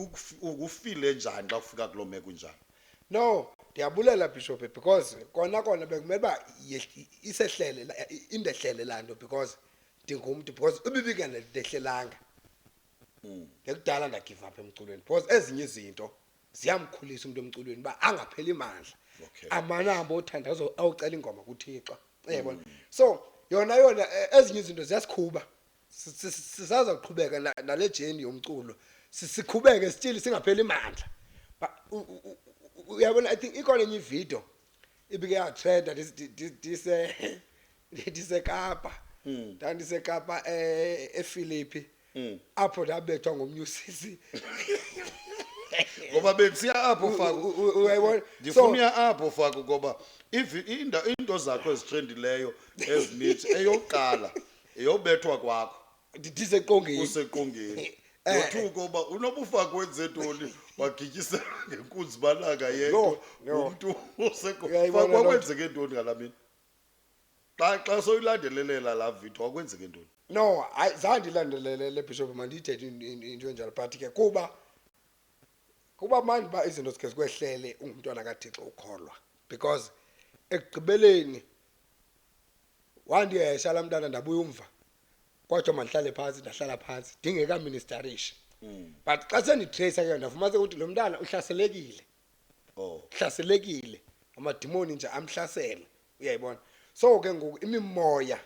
S1: ukufile njani xa kufika kuloo meko injalo? No,
S2: ndiyabulela bhishophi because kona kona bekumele uba isehlele indehlele laa nto because ndingumntu because ibibika ndehlelanga mm. ngekudala ndagive apha emculweni because ezinye izinto ziyamkhulisa umntu emculweni uba angapheli mandla okay. amanambo othanda awucela ingoma kuthixo yabona mm. so yona yona e, ezinye izinto ziyasikhuba sisaza kuqhubeka nale jeni yomculo sikhubeke still singapheli mandla uyabona i think ikhona enye ividiyo ibike yatrenda ndisekapa hmm. ndandisekapa eh, efilipi hmm. apho ndabethwa ngomnye usisi
S1: ngoba bekusiya apho faku uyayibona
S2: ndifuna apho
S1: faku ngoba into zakho ezitrendileyo ezininzi eyokuqala eyobethwa kwakho ndiseqongeni
S2: useqongeni
S1: Eh, yothuka uba unobufa kwenze ntoni wagityisela ngenkunzi balaka Yho, yedwa yho. umntu Uyayibona loo nto. wakwenzeke ntoni ngala mini xa xa soyilandelelela laa vidiyo wakwenzeke ntoni no hayi zange
S2: ndilandelelele bishop mandiyithethe in- in- into enjalo but ke kuba kuba manje uba izinto zikhe zikwehlele ungumntwana kathixo ukholwa because ekugqibeleni wandihesha laa mntana ndabuya umva kwathiwa mandihlale phantsi ndahlala phantsi ndingekaministarisha mm. but xa senditrayisa ke ndafumanise ukuthi lo mntana uhlaselekile oh. uhlaselekile amadimoni nje amhlasele uyayibona so ke ngoku imimoya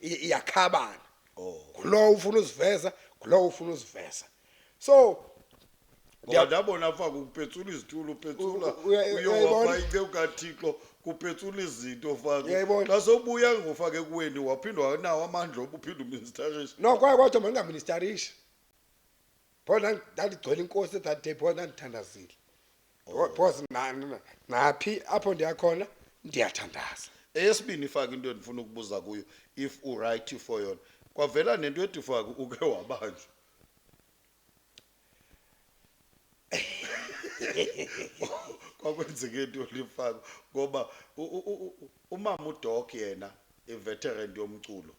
S2: iyakhabana oh. ngulowo ufuna uziveza ngulowo ufuna uziveza so ngoba
S1: ndabona pha kupetsula izitulo upetsula U- u- uya- uyowa uyayibona? pha inceku kathixo kupetsula izinto fake Uyayibona? xa sobuya ngofake kuweni waphinde wanawo amandla oba uphinde uministarisha no kwaye kodwa
S2: mandingaministarisha pho nda- ndandigcwele inkosi at that day pho ndandithandazile Pho- phozi na- na- naphi apho ndiyakhona ndiyathandaza eyesibini ifake
S1: into endifuna ukubuza kuyo if uright for yona kwavela nento ethi fake uke wabanjwa kwakwenzeke into lifako ngoba umama udok yena iveteran yomculo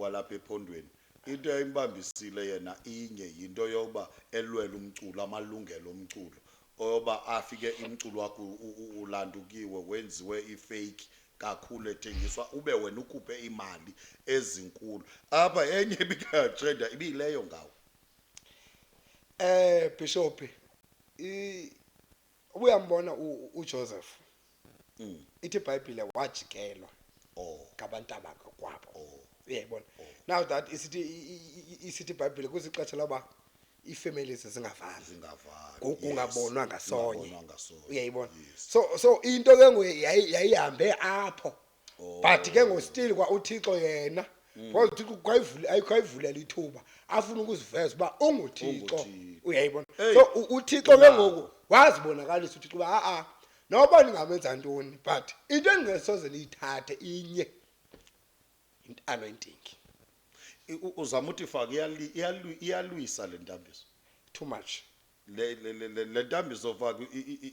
S1: walapha ephondweni into eyimbambisile yena inye yinto yokuba elwele umculo amalungelo omculo oyoba afike imculo wakho ulanda ukiwe wenziwe ifake kakhulu ethengiswa ube wena ukhuphe iimali ezinkulu apha enye ibikatrenda ibiyileyo ngawo Eh
S2: Bishop i- ubuyambona u- uJoseph Mm. ithi iBhayibhile wajikelwa oh ngabantu abakokwabo oh uyayibona now that isithi i- i- i- isithi iBhayibhile kwisixesha loba iifamilies zingavani zingavani ku- yes. kungabonwa ngasonye Kungabonwa ngasonye. uyayibona Yes. so so into ke ngoku yayi- yayihambe apho Oh. Mm. but ke ngostil kwa uthixo yena because uthixo kwayivule- ayi- kwayivulela ithuba afuna ukuziveza uba unguthixo Unguthixo. uyayibona Hey. so u- uthixo ke ngoku wazibonakalisa uthixo uba a-a noba ndingamenza ntoni but into endingesoze ndiyithathe inye anointing
S1: uzama uthi faka iyalwisa le ntambiso too much
S2: le le le
S1: le ntambiso faka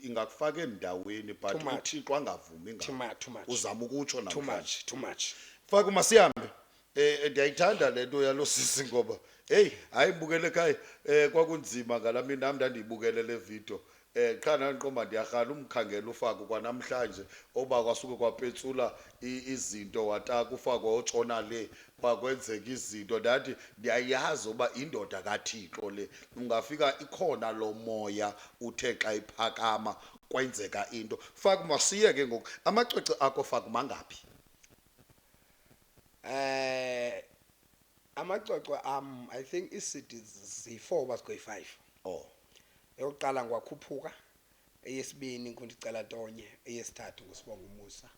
S1: ingakufaka endaweni but uthixo angavumi ngayo uzama ukutsho
S2: namhlanje
S1: too much
S2: faka masihambe
S1: eh, eh ndiyayithanda le nto yalo sisi ngoba heyi hayi bukele ekhaya um kwakunzima ngala mini nam ndandiyibukele le video Eh qha nandiqomba ndiyarhala umkhangela ufako kwanamhlanje oba kwasuke kwapetsula izinto wataka ufako wayotshona le kwakwenzeka izinto ndathi ndiyayazi uba indoda kaThixo le ungafika ikhona lo moya uthe xa iphakama kwenzeka into faka masiye ke ngoku amacwece akho faka mangaphi
S2: eh amacwecwe am i think iicd ziyi-four uba zikweyi-five oh
S1: Eyokuqala
S2: nguWakhuphuka, eyesibini nguNdicela Tonye, eyesithathu nguSibonga Umusa,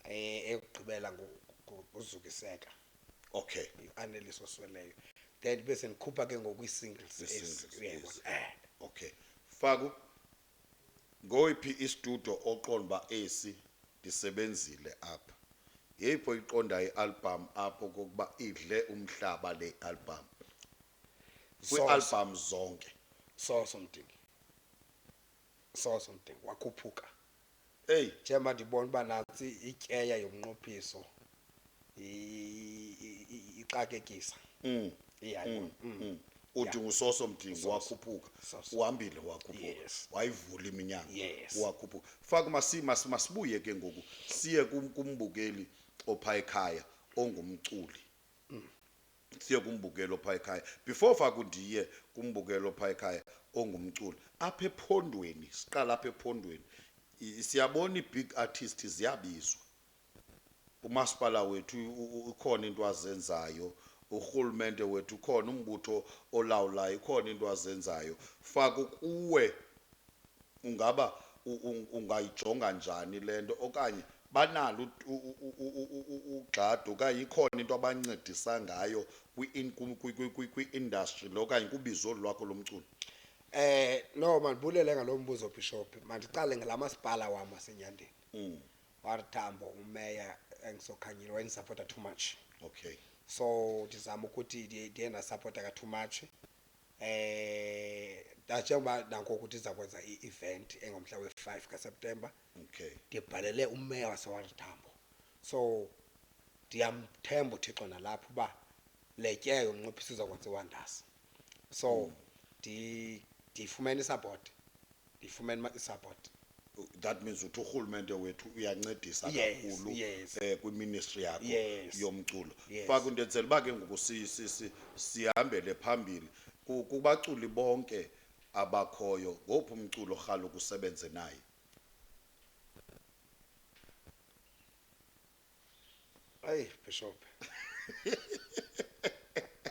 S2: eh, eyokugqibela ngu- ngu- nguZukiseka, okay
S1: uAnelis
S2: osweleyo. Then ndibe sendikhupha ke ngoku ii-singles ezi, Zi-singles uyayibona. ezi. Eh. okay
S1: faku ngoyiphi istudio oqonda uba esi ndisebenzile apha yeyiphi oyiqondayo ialbham apho kokuba idle umhlaba le albham Soso. kwiialbham zonke soso
S2: mdingi soso mdingi wakhuphuka eyi
S1: njengoba ndibona uba
S2: nantsi ityeya yomnqophiso i- i- i- ixakekisa mm, iyayibona mm, mm.
S1: uthi usoso mdingo wakhuphuka Soso. uhambile wakhuphuka Yes. wayivula
S2: iminyanga
S1: Yes. wakhuphuka
S2: faka
S1: masi- masi- masibuye ke ngoku siye kum- kumbukeli opha ekhaya ongumculi siye kumbukelo phaa ekhaya before faku ndiye kumbukelo phaa ekhaya ongumculi apha ephondweni siqala apha ephondweni i- siyabona ii-big artist ziyabizwa umasipala wethu u- u- ikhona into azenzayo urhulumente wethu ukhona umbutho olawulayo ikhona into azenzayo faku kuwe ungaba u- u- ungayijonga njani le nto okanye banalo ugxada okanye ikhona into abancedisa ngayo kwi-industry lo okanye kubizo olu lwakho lomculo? Eh
S2: no mandibulele ngalo mbuzo Bishop mandiqale ngala masipala wam waseNyandeni. Mm. Warithambo umeya engisokhanyile wayenisapota too much. Okay. So
S1: ndizama
S2: ukuthi ndiye ndasapota ka too much. Eh njengoba nangoku ndiza kwenza i-event engomhla we-five kaSeptemba. okay
S1: ndibhalele umeya
S2: waseWarren Tambo so ndiyamthemba uthixo nalapha uba le tye yomnqophisi izokwenza iwonders so ndi- ndiyifumene isapoti ndiyifumene ma- isapoti
S1: that means uthi urhulumente wethu uyancedisa Yes, kakhulu yes.
S2: eh,
S1: kwiministry
S2: yakho
S1: Yes. yomculo
S2: Yes. faka
S1: into enzela
S2: uba ke ngoku
S1: si- si- si- sihambele phambili Ku- kubaculi bonke abakhoyo ngophi umculo rhalo kusebenze naye
S2: Ayi Bishop.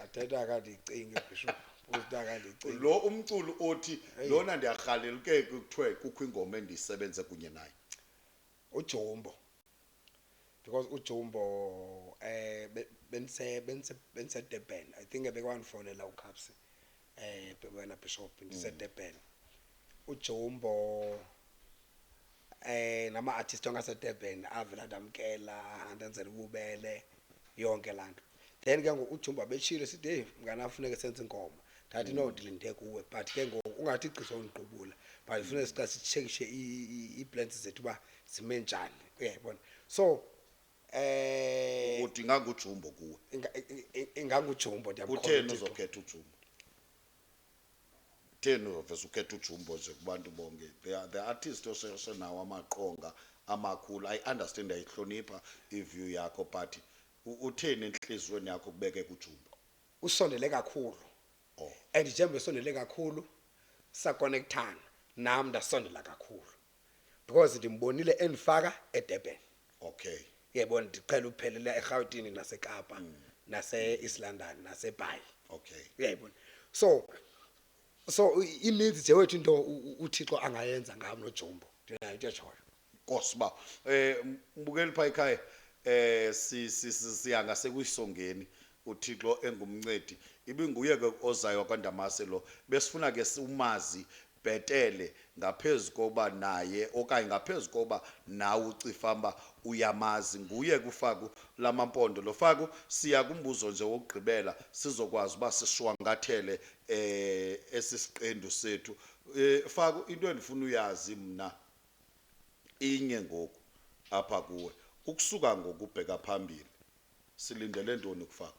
S2: Athetha akandicingi Bishop. Uthi akandicingi. lo umculo
S1: othi Hey. lona ndiyarhalela ke kuthiwe kukho ingoma endisebenze kunye naye Ujombo.
S2: because ujumbo um eh, bendisedurban i think ebekwandifonela ucaps um eh, wena bishop ndisedurban mm. ujumbo eh nama-artist ongasedurban avela ndamkela andenzela ububele yonke laa nto then ke ngoku ujumba betshile sithi heyi mngana funeke senze inkomo ndathi no ndilinde kuwe but ke ngoku ungathi igqiza undiqubula but funeke siqa sitshekishe ii-plants zethu uba zime njani uyayibona so eh uthi
S1: ingangujumbo kuwe inga- i- i- ingangujumbo
S2: kutheni ndiyamkhola
S1: uzokhetha ujumbo kutheni uzovese ukhetha ujumbo nje kubantu bonke the, the artist osenawo amaqonga amakhulu i understand ayihlonipha iview yakho but U- uthini entliziyweni yakho kubeke kujumbo usondele
S2: kakhulu Oh. and
S1: njengoba esondele
S2: kakhulu sakonekthana nam ndasondela kakhulu because ndimbonile endifaka edurban okay
S1: yebo ndiqhela
S2: ukuphelela erhawutini nasekapa nase-east london nasebhayi okay yebo
S1: so
S2: so i- ininzi nje wethu into u- u- uthixo angayenza ngam nojombo ndinayo into etshoyo Nkosi ba.
S1: Eh mbukeli pha ekhaya eh si si- si- siya ngasekuyisongeni uThixo engumncedi. Ibinguye ke ozayo kwaNdamase lo. Besifuna ke siwumazi bhetele ngaphezulu koba naye okanye ngaphezulu koba nawe ucifamba uyamazi nguye kufaku lamampondo lo faku siya kumbuzo nje wokugqibela sizokwazi uba sishwangathele eh esisiqendu sethu eh faku into endifuna uyazi mina inye ngoku apha kuwe ukusuka ngokubheka phambili silindele ntoni kufaku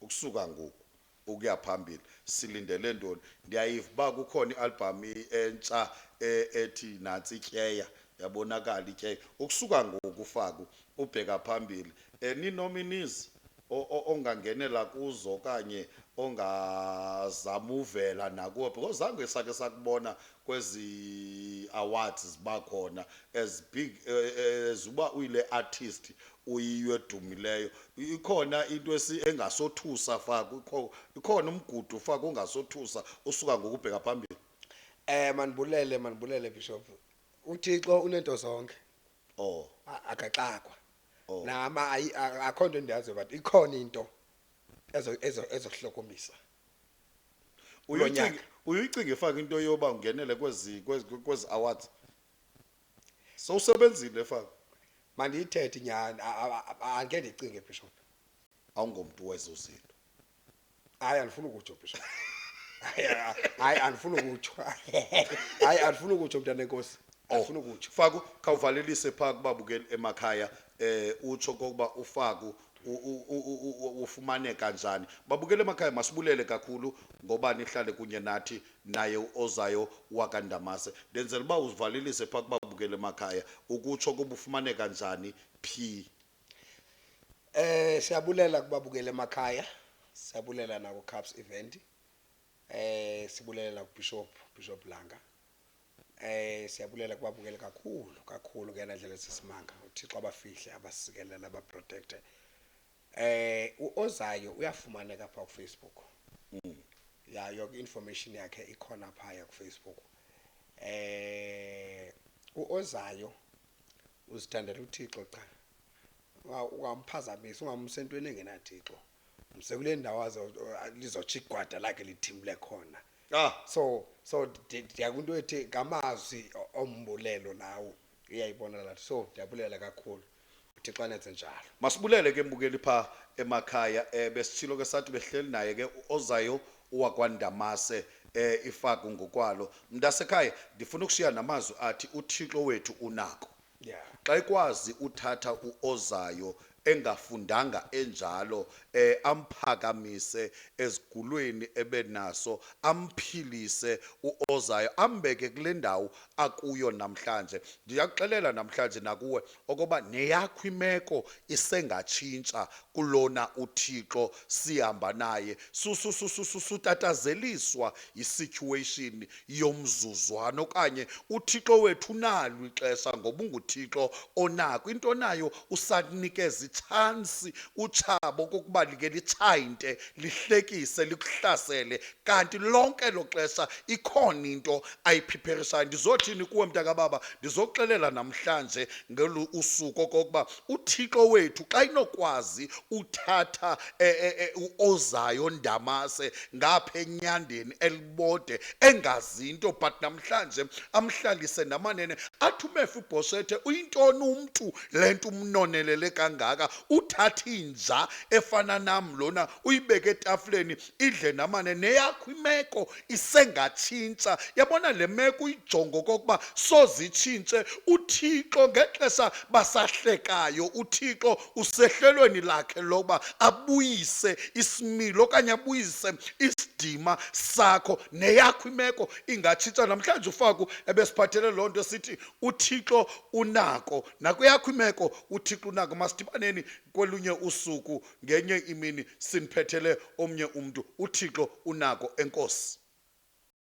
S1: ukusuka ngoku ukuya phambili silindele ntoni ndiyayiva uba kukhona i-albham entsha e, ethi nantsi ityeya yabonakala ityeya ukusuka ngokufaku ubheka phambili um eh, ninominizi ongangenela kuzo okanye ongazamuvela nakuwe because zange sakhe sakubona kwezi awards ziba khona as big eh, as uba uyile artist uyiyo edumileyo ikhona into esi engasothusa faka ikho- ikhona umgudu faka ongasothusa usuka ngokubheka phambili Eh mandibulele mandibulele
S2: Bishop. UThixo unento zonke. oh A- akaxakwa Oh. nama ayi- a- akho nto endiyaziyo but ikhona into ezo- ezo- ezohlokomisa Kulo uyicinge nyaka.
S1: uyicinge faka into yoba ungenele kwezi kwezi kwezi awards sowusebenzile faka mandiyithethe
S2: nyhani a- a- a- angeke ndicinge bishop awungomntu
S1: wezo zinto hayi
S2: andifuni ukutsho bishop Hayi, hayi andifuni ukutsho hayi andifuni ukutsho mntana enkosi andifuni ukutsho faku khawuvalelise
S1: phaa kubabukeli emakhaya eh utsho kokuba ufaku u- u- u- u- u- ufumaneka njani babukeli emakhaya masibulele kakhulu ngoba nihlale kunye nathi naye uozayo wakandamase ndenzela uba uzivalelise phaa kubabukeli emakhaya ukutsho kokuba ufumaneka njani phi Eh
S2: siyabulela kubabukeli emakhaya, siyabulela nakuCaps Event. Eh sibulela nakuBishop, Bishop Langa. Eh siyabulela kubabukeli kakhulu, kakhulu ngeyona ndlela esisimanga. UThixo abafihle, abasikelele, abaprotekte. Eh uOzayo uyafumaneka phaa kuFacebook. Ya yonke i-information yakhe ikhona phaya kuFacebook. Eh uOzayo uzithandela uthixo qha ungamphazamisi ungamse entweni engenathixo mse kule ndawo lizotsho igwada lakhe lithimle khona ah. so so ndiyakwinto ethi ngamazwi ombulelo lawo uyayibona lathi so ndiyabulela kakhulu uthixo anenze njalo masibulele ke mbukeli
S1: phaa emakhaya um besitshilo ke sathi behleli naye ke ozayo wakwaNdamase eh ifaku ngokwalo mntasekhaya ndifuna ukushiya namazwi athi uThixo wethu unako Yeah. xa ikwazi uthatha uozayo engafundanga enjalo eh amphakamise ezigulweni ebenaso amphilise uozayo ambeke kule ndawo akuyo namhlanje ndiyakuxelela namhlanje nakuwe okoba neyakho imeko isengatshintsha kulona uThixo sihamba naye sutatazeliswa yisituation yomzuzwana okanye uThixo wethu unalo ixesha ngoba unguThixo onako into nayo usakunikeza itshansi utshabo kokuba like litshayinte lihlekise likuhlasele kanti lonke lo xesha ikhona into ayiphipherisaya ndizothini kuwe mntakababa ndizoxelela namhlanje ngolu usuku okokuba uthixo wethu xa inokwazi uthatha e, e, e, uozayo ndamase ngapha enyandeni elibode engazi into but namhlanje amhlalise namanene athi umefa ubhoshethe uyintoni umntu le nto umnonelele kangaka uthatha inja efana nam lona uyibeke etafuleni idle namane neyakho imeko isengatshintsha yabona le meko uyijongo okokuba sozitshintshe uthixo ngexesha basahlekayo uthixo usehlelweni lakhe lokuba abuyise isimilo okanye abuyise isidima sakho neyakho imeko ingatshintsha namhlanje ufaku ebesiphathele loo nto sithi uthixo unako nakweyakho imeko uthixo unako masidibaneni kolunye usuku ngenye imini siniphethele omnye umntu, uThixo unako, enkosi.